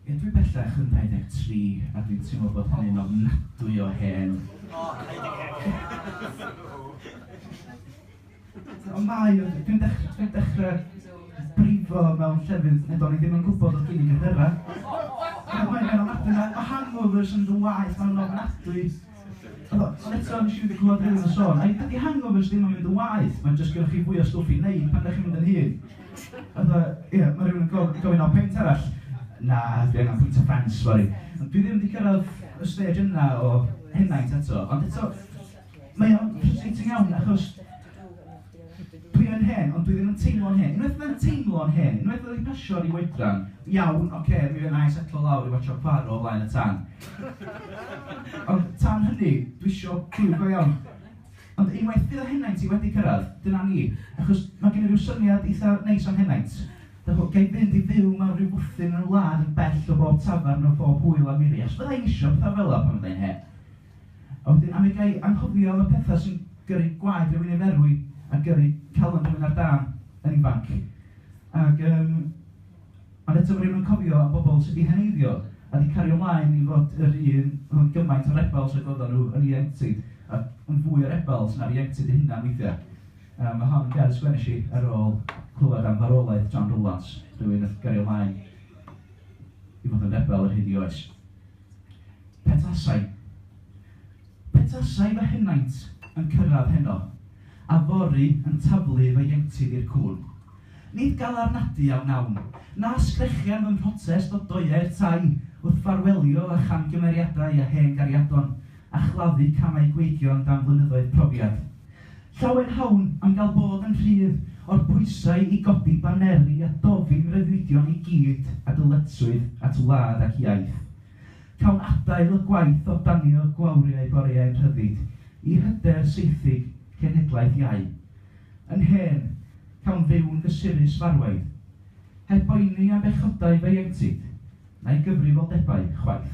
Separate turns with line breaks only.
Ie, dwi bellach yn 23 a dwi'n teimlo bod hynny'n ofnadwy o hen. Ond mae, dwi'n dechrau, dwi'n dechrau brifo mewn llefydd nid o'n i ddim yn gwybod oedd gen i gyhyrau. Mae'n ofnadwy, mae hangover sy'n fy waeth, mae'n ofnadwy. Ond eto, nes i ddim 'di clywed Rhys a Siôn. Ai dydi hangovers ddim yn mynd yn waeth, mae'n jyst gennych chi fwy o stwff i wneud pan dach chi'n mynd yn hŷn? Fatha, ia, mae rhywun yn go- gofyn am peint arall. Na, dwi angen pwyntio ffens fory. Ond dwi ddim 'di cyrraedd y stêj yna o henaint eto. Ond eto, mae o'n frustrating iawn achos... Dwi yn hen, ond dwi ddim yn teimlo'n hen. Unwaith mae'n teimlo'n hen, unwaith oedd hi'n pasio rhyw oedran, iawn, oce, okay, mi fydd na'i setlo lawr i watcho Poirot o flaen y tân. Ond tan hynny, dwi isio clywed go iawn. Ond unwaith fydd y henaint i wedi cyrraedd, dyna ni. Achos mae gen i rhyw syniad eitha neis am henaint. Dych, gai fynd i fyw mewn rhyw fwthyn yn y wlad yn bell o bob tafarn o bob hwyl a miri. Achos fydda i'n isio pethau fel yna pan fydda i'n hen. A wedyn a mi ga i anghofio am y petha sy'n gyrru gwaed rhywun i ferwi a gyrru calon rhywun ar dân yn ifanc. Ac yym ond eto ma' rhywun yn cofio am bobl sy 'di heneiddio a 'di cario mlaen i fod yr un oedd yn gymaint o rebels ag oeddan nhw yn ieuenctid a yn fwy o rebels na'r ieuenctid eu hunan weithiau. Yym ma' hon yn gair sgwennesh i ar ôl clywed am farwolaeth John Rowlands, rhywun nath gario mlaen i fod yn rebel ar hyd 'i oes. Petasai. Petasai fy henaint yn cyrraedd heno, a fory yn taflu fy ieuenctid i'r cŵn. Nid galarnadu a wnawn, na sgrechian fy mhrotest o doeau'r tai wrth ffarwelio â chamgymeriadau a hen gariadon a chladdu camau gweigion dan flynyddoedd profiad. Llawer hawn am gael bod yn rhydd o'r pwysau i godi baneri a dofyn rhyddfeidion i gyd a dyletswydd at wlad ac iaith. Cawn adael y gwaith o danio gwawriau boreau'n rhyddid i hyder seithug cenhedlaeth iau. Yn hen, cawn fyw'n gysurus farwaidd, heb boeni am bechodau feiengtid, na'i gyfrifoldebau, chwaith.